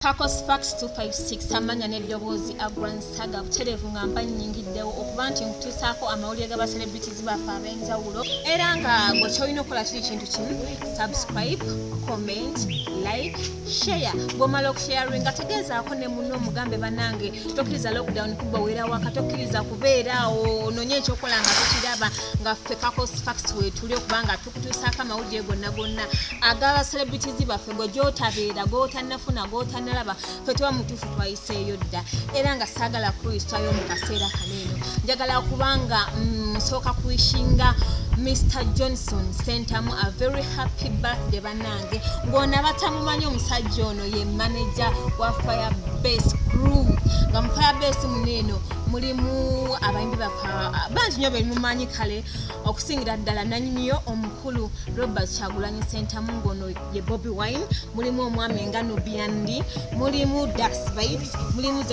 Kakos Fax 256 Amanya n'eddoboozi Agran Saga butereevu nga mba nnyingiddewo okuba nti nkutuusaako amawulire ga baselebritizi baffe ab'enjawulo era nga gwe kyolina okukola kiri kintu kimu subscribe comment like share bw'omala okusharinga tegeezaako ne muno omugambe banange tokkiriza lockdown kuba weera waka tokkiriza kubeera awo ononye ekyokola nga tukiraba nga ffe Kakos Fax wetuli okubanga okutuusaako amawulire gonna gonna agaba celebrities baffe gwe gyotabeera gwotanafuna gwotanalaba fe tuba mutuufu twayiseeyo dda era nga saagala kuyisitayo mu kaseera kano eno njagala kubanga mm, nsooka kuishinga mr johnson sentamu a very happy birthday banange ng'ono abatamumanyi omusajja ono ye manaja wa fire base crew nga mu fire base muno eno mulimu abayimbi bafa bangi nyo bemumanyi kale okusingira ddala nanyiniyo omukulu robert kyagulanyi sentamu ngono ye bobi wine mulimu omwami nga nubiandi mulimu daxbit mulimu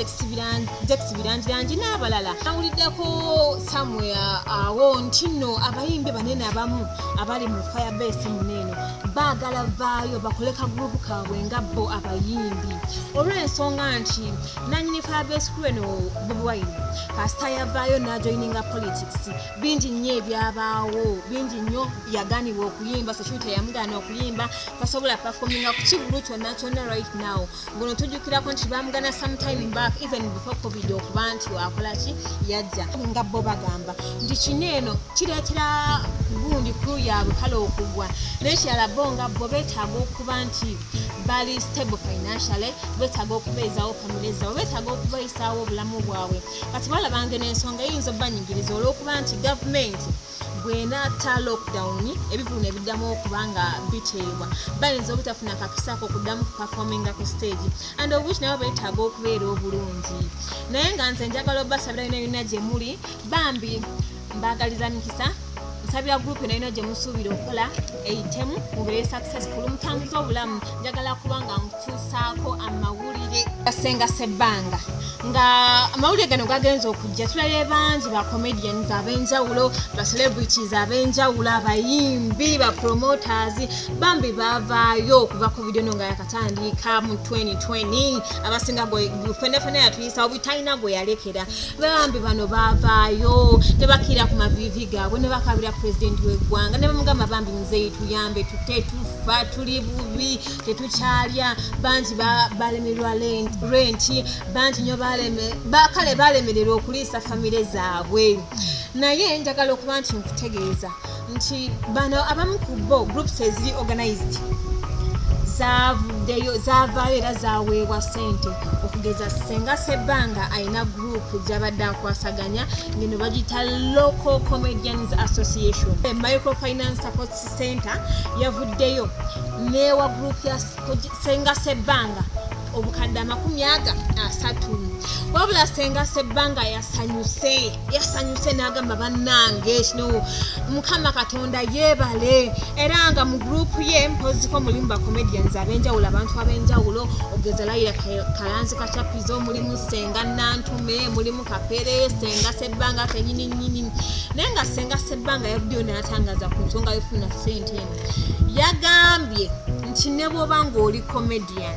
zexbirangirangi n'abalala awuliddeko samuel awo nti no abayimbi banene abamu abali mu firebase muneeno baagala vaayo bakole ka gurupu kaabwe nga bo abayimbi olw'ensonga nti nanyini firebase kulu eno bobi wine kasita yavaayo n'ajoyininga politics bingi nnyo ebyabaawo bingi nnyo yaganibwa okuyimba sokibi teyamugana okuyimba tasobola performinga ku kivulu kyonna kyonna right now ngono tujukirako nti bamugana sometime back even before covid okuba nti wakola ki yajja nga bo bagamba nti kino eno kireetera gundi kru yaabwe kale okugwa naye kirala bo nga bo betaaga okuba nti bali stable financially betaaga okubeezawo famile zaabwe betaaga okubayisaawo obulamu bwabwe kati balabanga n'ensonga eyinza obanyigiriza olw'okuba nti gavumenti bwenatta lockdown ebivulu nebiddamu okuba nga biteebwa bayinza obutafuna kakisako okuddamu kuperforminga ku stage and obwich nabo betaaga okubeera obulungi naye nga nze njagala obasabira yona yona gyemuli bambi mbagaliza mikisa nsabira gurupu eno ino gye musuubira okukola eyitemu mubeere successful mutambuza obulamu njagala kuba nga mutuusaako amawulire gasenga sebbanga nga amawulire gano gagenza okujja tulabye bangi ba comedians ab'enjawulo ba celebrities ab'enjawulo abayimbi ba promoters bambi bavaayo okuva ku video no nga tandiika mu 2020 abasinga fenefene yatuyisa obutalina gwe yalekera bambi bano bavaayo tebakira ku mavivi gaabwe ne bakabira pulezidenti w'eggwanga ne bamugamba bambi muzeeyi tuyambe tute tufa tuli bubi tetukyalya bangi balemerwa renti bangi nyo kale balemererwa okuliisa famire zaabwe naye njagala okuba nti nkutegeeza nti bano abamu ku bo groups eziri organized zavuddeyo zavaayo era zaweebwa sente okugeza senga sebbanga alina group gyabadde akwasaganya ngeno bagiyita local comedians association microfinance support center yavuddeyo newa group ya senga sebbanga obukadde amakumi aga asatu wabula senga sebbanga yasanyuse yasanyuse n'agamba bannange kino mukama katonda yeebale era nga mu gurupu ye mpoziko mulimu bacomedians ab'enjawulo abantu ab'enjawulo okugeza layira kalanzi kacapizo mulimu senga nantume mulimu kapere senga sebbanga kenyini nyini naye nga senga sebbanga yavuddeyo n'atangaza ku nsonga yofuna sente eno yagambye nti ne bwoba ng'oli comedian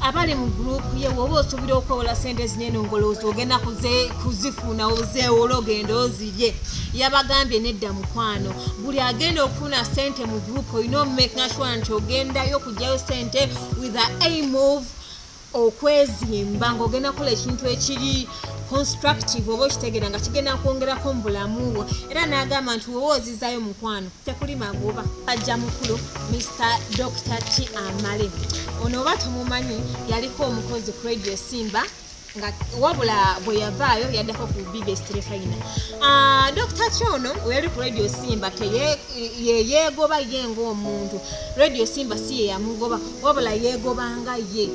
abali mu gurupu ye woba osubira okwewola sente ezinene ngolowooza ogenda kuzifuna ozeewola ogenda ozirye yabagambye nedda mukwano buli agenda okufuna sente mu gurupu olina omumakinga sure nti ogendayo okugyayo sente with the aim of okwezimba ng'ogenda kukola ekintu ekiri constructive oba okitegeera nga kigenda kwongerako mu bulamu bwo era n'agamba nti woba ozizayo mukwano tekuli magoba ajja mukulu mr dr t amale ono oba tomumanyi yaliko omukozi ku radio simba nga wabula bwe yavaayo yaddako ku biggest refina ah, dr t ono weyali ku radio simba yeyeegoba ye ngaomuntu radio simba si yeyamugoba wabula yeegobanga ye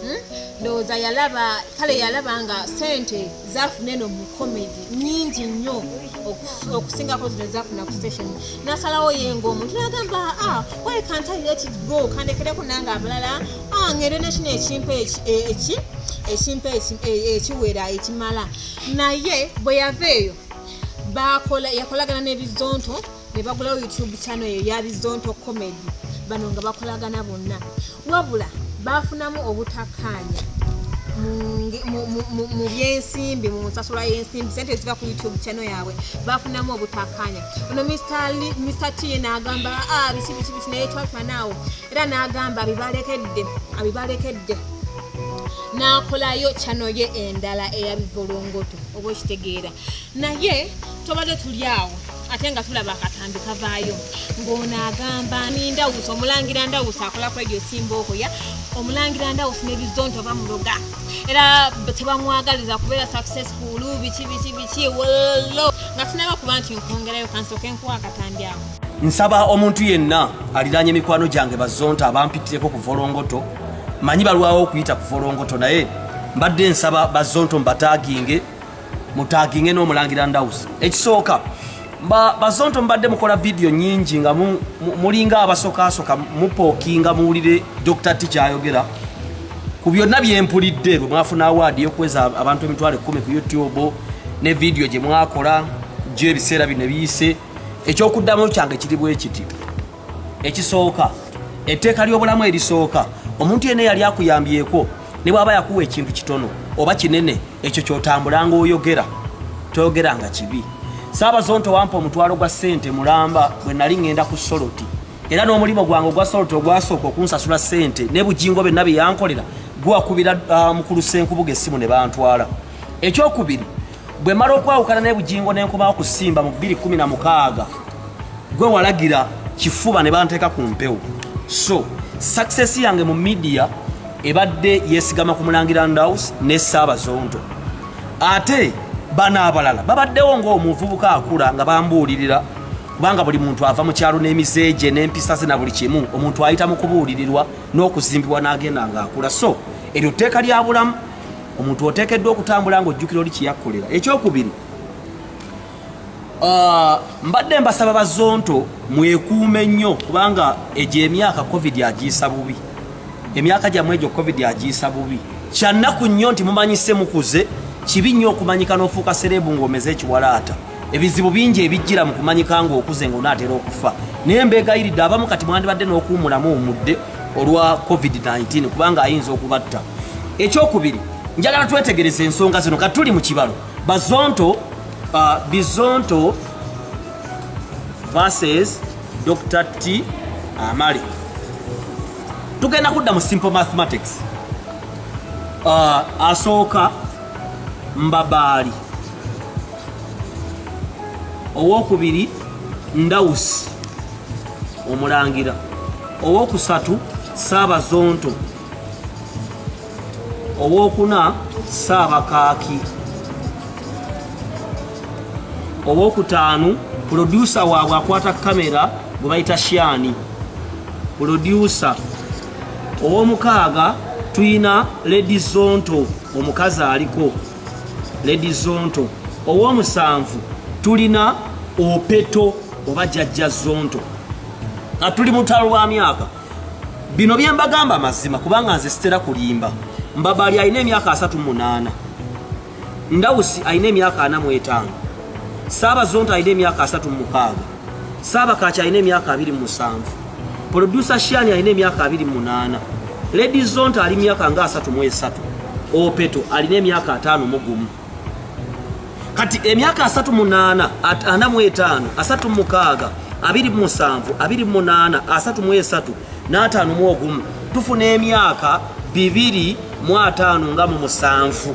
Hmm? ndowooza yalaba kale yalaba nga sente zafuna eno mu comedy nyingi nnyo okusingako zino zafuna ku station nasalawo yenga omuntu nagamba ah, why can't i let it go kandekereko nange abalala ah, ngere nekino ekimpa e, eki ekimpa e, ekiwera ekimala naye bwe yava eyo bakola yakolagana n'ebizonto ne bagulawo youtube channel eyo yabizonto comedy bano nga bakolagana bonna Wabula baafunamu obutakkaanya mu byensimbi mu nsasula y'ensimbi sente eziva ku youtube channel yaabwe bafunamu obutakkaanya ono mr t naagamba ah, biki biki biki naye twafanaawo era naagamba abibalekedde abibalekedde n'akolayo kyano ye endala eyabivulungutu oba okitegeera naye tobadde tuli awo ate nga tulaba akatambi kavaayo ng'ono agamba nindawusi omulangira ndawusi akola ku radio simbookoya omulangira ndawusi nebizonto bamuloga era tebamwagaliza kubeera successful biki biki biki wollo nga sinaba kuba nti nkwongerayo kansooka enkuwa akatambi ako nsaba omuntu yenna aliraanye emikwano gyange bazonto abampitireko ku volongoto manyi balwawo okuyita ku volongoto naye mbadde nsaba bazonto mbataginge mutaginge n'omulangira ndawusi ekisooka bazonto mubadde mukola vidiyo nyingi nga mulinga abasokasoka mupookinga muwulire dr t kyayogera ku byonna byempulidde lwe mwafuna awaadi yokuweza abantu emitwalo ekumi ku youtube ne vidiyo gye mwakola gyo ebiseera bino biyise ekyokuddamu kyange kiri bwekiti ekisooka etteeka ly'obulamu erisooka omuntu yena yali akuyambyeko ne bwaba yakuwa ekintu kitono oba kinene ekyo kyotambulanga oyogera toyogeranga kibi saabazonto wampa omutwalo gwa sente mulamba bwe nali ŋŋenda ku soloti era n'omulimu gwange ogwa soloti ogwasooka okunsasula sente ne bujingo byonna bye yankolera gwakubira ah, mukulu senkubuga essimu ne bantwala ekyokubiri bwe mala okwawukana ne bugingo ne nkomawo ku simba mu 216 gwe walagira kifuba ne banteeka ku mpewo so success yange mu midiya ebadde yesigama ku mulangira ndaus ne saabazonto ate bano abalala babaddewo ng'omuvubuka akula nga bambuulirira kubanga buli muntu ava mu kyalo n'emize gye n'empisa ze na buli kimu omuntu ayita mu kubuulirirwa n'okuzimbibwa n'agenda ng'akula so eryo tteeka lya bulamu omuntu oteekeddwa okutambula ng'ojjukira oli kiyakkolera ekyokubiri ah, mbadde mbasaba bazonto mwekuume nnyo kubanga egyo emyaka covid agiyisa bubi emyaka gyammwe egyo covid agiyisa bubi kyannaku nnyo nti mumanyise mukuze kibi nnyo okumanyika n'ofuuka sereebu ng'omeze ekiwalaata ebizibu bingi ebijjira mu kumanyika ng'okuze ng'onaatera okufa naye mbeegayiridde abamu kati mwandibadde n'okuwumulamu omudde olwa covid-19 kubanga ayinza okubatta ekyokubiri njagala twetegereza ensonga zino kati tuli mu kibalo bazonto uh, bizonto verses dr t amale tugenda kudda mu simple mathematics uh, asooka mbabaali owokubiri ndawusi omulangira owokusatu saabazonto owokuna saabakaaki owokutaanu pulodyusa waabwe akwata kamera gwe bayita shani pulodyusa owomukaaga tuyina ledi zonto omukazi aliko lady zonto owomusanvu tulina opeto oba jajja zonto nga tuli mutalo lwa myaka bino byembagamba amazima kubanga nze sitera kulimba mbabali alina emyaka asatu munaana ndawusi alina emyaka ana mwetaano saaba zonto alina emyaka asatu mumukaaga Saabakaaki alina emyaka abiri mu musanvu producer Shani alina emyaka abiri mu munaana Lady Zonta ali myaka nga asatu mu esatu Opeto alina emyaka ataano mu gumu kati emyaka asatu munaana ana mu etaano asatu mukaaga abiri mu musanvu abiri mu munaana asatu mu esatu n'ataano mu ogumu tufuna emyaka bibiri mu ataano nga mu musanvu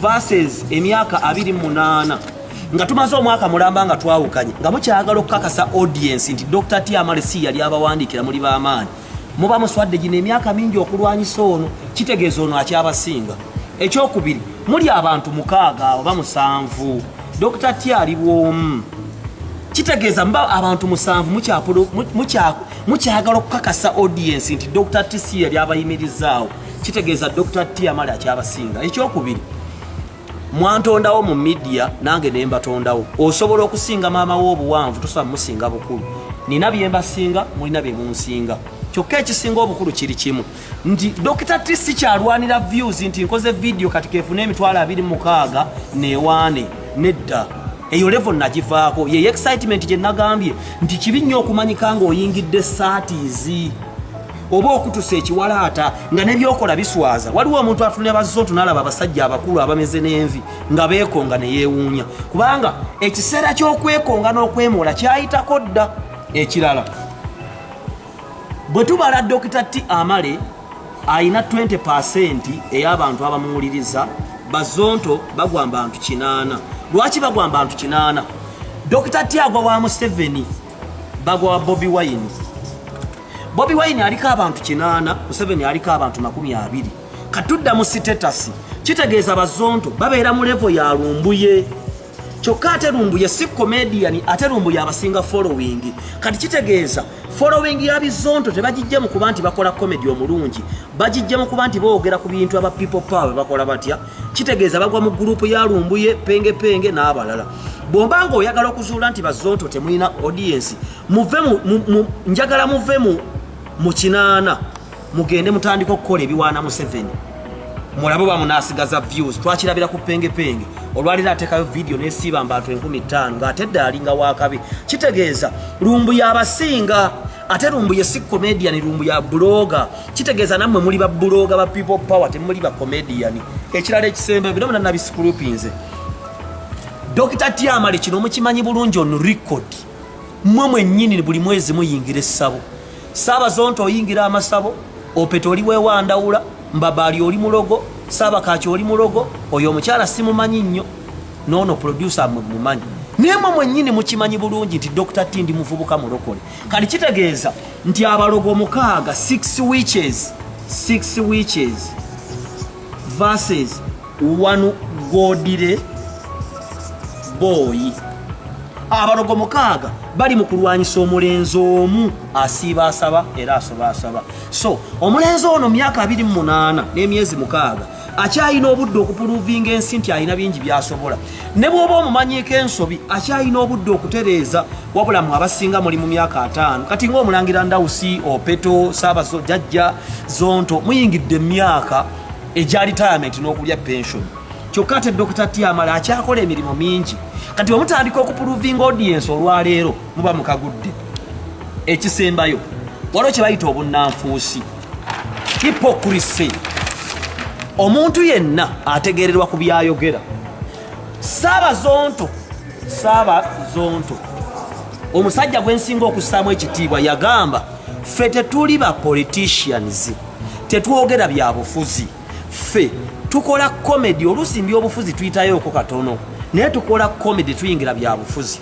verses emyaka abiri munaana nga tumaze omwaka mulamba nga twawukanye nga mukyagala okukakasa audience nti dr tiamale si yali abawandiikira muli bamaanyi muba muswadde gino emyaka mingi okulwanyisa ono kitegeeza ono akyabasinga ekyokubiri muli abantu mukaaga oba musanvu dr ti ali bwomu kitegeeza muba abantu musanvu mukyagala okukakasa audience nti dr ti si yali abayimirizaawo kitegeeza dr tiamali akyabasinga ekyokubiri mwantondawo mu midiya nange ne mbatondawo osobola okusinga maama we obuwanvu tosobola musinga bukulu nina bye mbasinga mulina bye munsinga kyokka ekisinga obukulu kiri kimu nti dokita ti sikyalwanira views nti nkoze vidiyo kati kefuna emitwalo abiri mukaaga newaane nedda eyo levo nagivaako yeyo excitement gye nagambye nti kibi nnyo okumanyika ng'oyingidde saatiizi oba okutusa ekiwalaata nga nebyokola biswaza waliwo omuntu atunira bazontu nalaba abasajja abakulu abameze n'envi nga beekonga ne yeewuunya kubanga ekiseera ky'okwekonga n'okwemoola kyayitako dda ekirala bwe tubala dokita ti amale alina 20 pasenti ey'abantu abamuwuliriza bazonto bagwa mbantu kinaana lwaki bagwa mbantu kinaana dokita ti agwa wa museveni Bagwa wa Bobi Wine. Bobi Wine aliko abantu kinaana, Museveni aliko abantu makumi abiri. Katudda mu sitetasi kitegeeza bazonto babeera mu levo ya lumbuye kyokka ate lumbuye si comedian ate lumbuye abasinga following kati kitegeeza following ya bizonto tebagijja mu kuba nti bakola comedy omulungi bagijja mu kuba nti boogera ku bintu aba people power bakola batya kitegeeza bagwa mu gurupu ya lumbuye penge penge n'abalala bwomba nga oyagala okuzuula nti bazonto temulina audiensi muve njagala muve mu kinaana mugende mutandika okukola ebiwaana museveni mulabe oba munaasigaza views twakirabira ku penge penge olwaliro atekayo vidiyo nesiiba mbantu enkumi ttaano ng'ate dde alinga wakabi kitegeeza lumbuye abasinga ate lumbuye si comedian lumbuya buloga kitegeeza nammwe muli babuloga ba people power temuli ba comedian ekirala ekisembe bino bina nabisikulupinze dokita tiamale kino mukimanyi bulungi on record mmwe mwennyini buli mwezi muyingira essabo saabazonto oyingira amasabo opeta oli wewandawula mbabaali oli mulogo saabakaaki oli mulogo oyo omukyala simumanyi nnyo nono producer mwe mumanyi nemwe mwenyini mukimanyi bulungi nti dr t ndi muvubuka mulokole kati kitegeeza nti abalogo mukaaga six witches six witches verses one godire boyi abalogo mukaaga bali mu kulwanyisa omulenzi omu asiiba asaba era asoba asaba so omulenzi ono myaka abiri mu munaana n'emyezi mukaaga akyalina obudde okupuluvinga ensi nti alina bingi byasobola ne bwoba omumanyiiko ensobi akyalina obudde okutereeza wabula mu abasinga muli mu myaka ataano kati ngaomulangira ndawusi opeto saabazo jajja zonto muyingidde emyaka egya retirement n'okulya pension kyokka ate dokita tiamala akyakola emirimu mingi kati omutandika okupuluvinga audiensi olwaleero muba mukagudde ekisembayo waliwo kye bayita obunnanfuusi hipokurisi omuntu yenna ategererwa ku byayogera saaba zonto saaba zonto omusajja gwensinga okussaamu ekitiibwa yagamba ffe tetuli ba politicians tetwogera byabufuzi ffe tukola komedi oluusi mbyobufuzi tuyitayooko katono naye tukola komedi tuyingira byabufuzi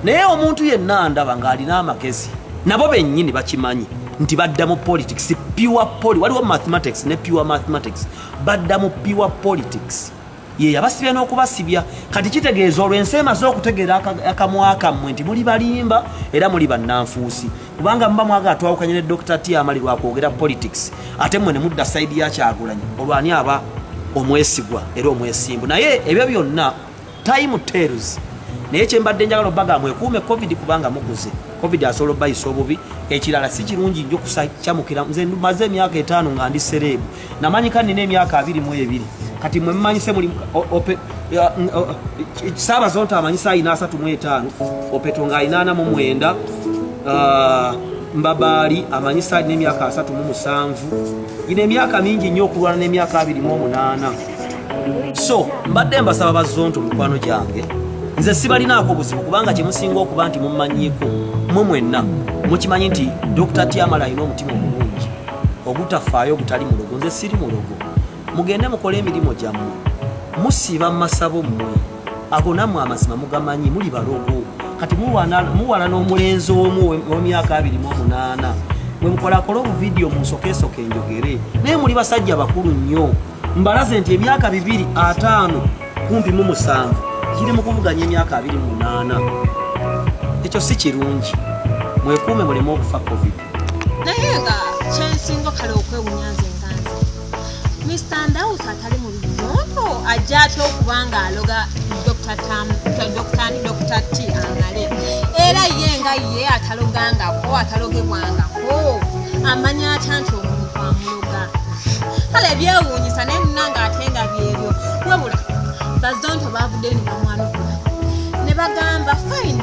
naye omuntu yenna ndaba ng'alina amagezi nabo bennyini bakimanyi nti badda mu politics pure poli waliwo mathematics ne pure mathematics badda mu pure politics ye yabasibya n'okubasibya kati kitegeeza olwo ensi emaze okutegeera akamwa kammwe nti muli balimba era muli bannanfuusi kubanga muba mwagala twawukanye ne dr t amali lwakwogera politics ate mmwe ne mudda sayidi ya kyagulanyi olwani aba omwesigwa era omwesimbu naye ebyo byonna time tells naye kyembadde njagala obaga mwekuume covid kubanga muguze covid asobola obayisa obubi ekirala si kirungi nyo kusakyamukira nze maze emyaka etaano nga ndi sereebu namanyika nina emyaka abiri mu ebiri kati mwe mumanyise muli saaba zonta amanyisa ayina asatu mu etaano opeto nga ayina ana mu mwenda ah, mbabaali amanyisa alina emyaka asatu mu musanvu ina emyaka mingi nnyo okulwana n'emyaka abiri mu omunaana so mbadde mbasaba bazonto mikwano gyange nze sibalinaako buzibu kubanga kyemusinga okuba nti mumanyiko mwe mwenna mukimanyi nti dr tiamala alina omutima omu ogutafaayo ogutali mulogo nze siri mulogo mugende mukole emirimu gyammwe musiiba mu masabo mmwe ago nammwe amazima mugamanyi muli balogo kati muwala n'omulenzi omu wemyaka abiri mu omunaana mwe mukolakola obuvidiyo mu nsokeesoka enjogere naye muli basajja bakulu nnyo mbalaze nti emyaka bibiri ataano kumpi mu musanvu kiri mu kuvuganya emyaka abiri mu munaana ekyo si kirungi mwekuume muleme okufa covid naye nga kyensinga kale okwewunya nze nganze mr ndaus atali mu bizondo ajja atya okuba nga aloga dr tam dr ni dr t amale era ye nga ye atalogangako atalogebwangako amanya atya nti omuntu amuloga kale byewuunyisa naye nina nga ate nga byebyo wabula bazonto baavuddeyo ne bamwanukula ne bagamba fine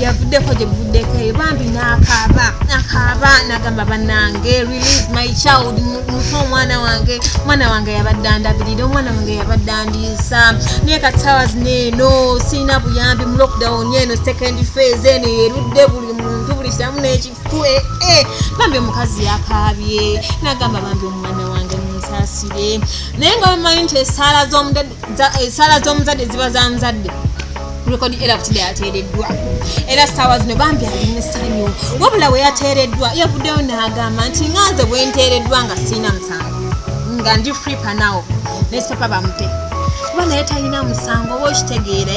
yavuddeko gye buvuddeko eyo bambi nakaaba nakaaba nagamba banange release my child muto omwana wange omwana wange yabadde andabirira omwana wange yabadde andiisa naye kati sawa zino eno sirina buyambi mu lockdown eno second phase eno yerudde buli muntu buli kiramu nekifue eh, bambi omukazi yakaabye nagamba bambi omwana wange munsasire naye nga bamanyi nti esaala z'omudadi esaala eh, z'omuzadde ziba za muzadde rekodi era kutide yateereddwa era saawa zino bambi alimu essanyu wabula we yateereddwa yavuddeyo n'agamba nti nga nze bwe nteereddwa nga sirina musango nga ndi free panawo nesipapa bamute kuba naye talina musango oba okitegeere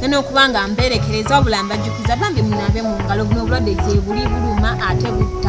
nenokuba nga mberekereza wabula mbajjukiza bambi munabe mu ngalo buno obulwadde gyebuli buluma ate butta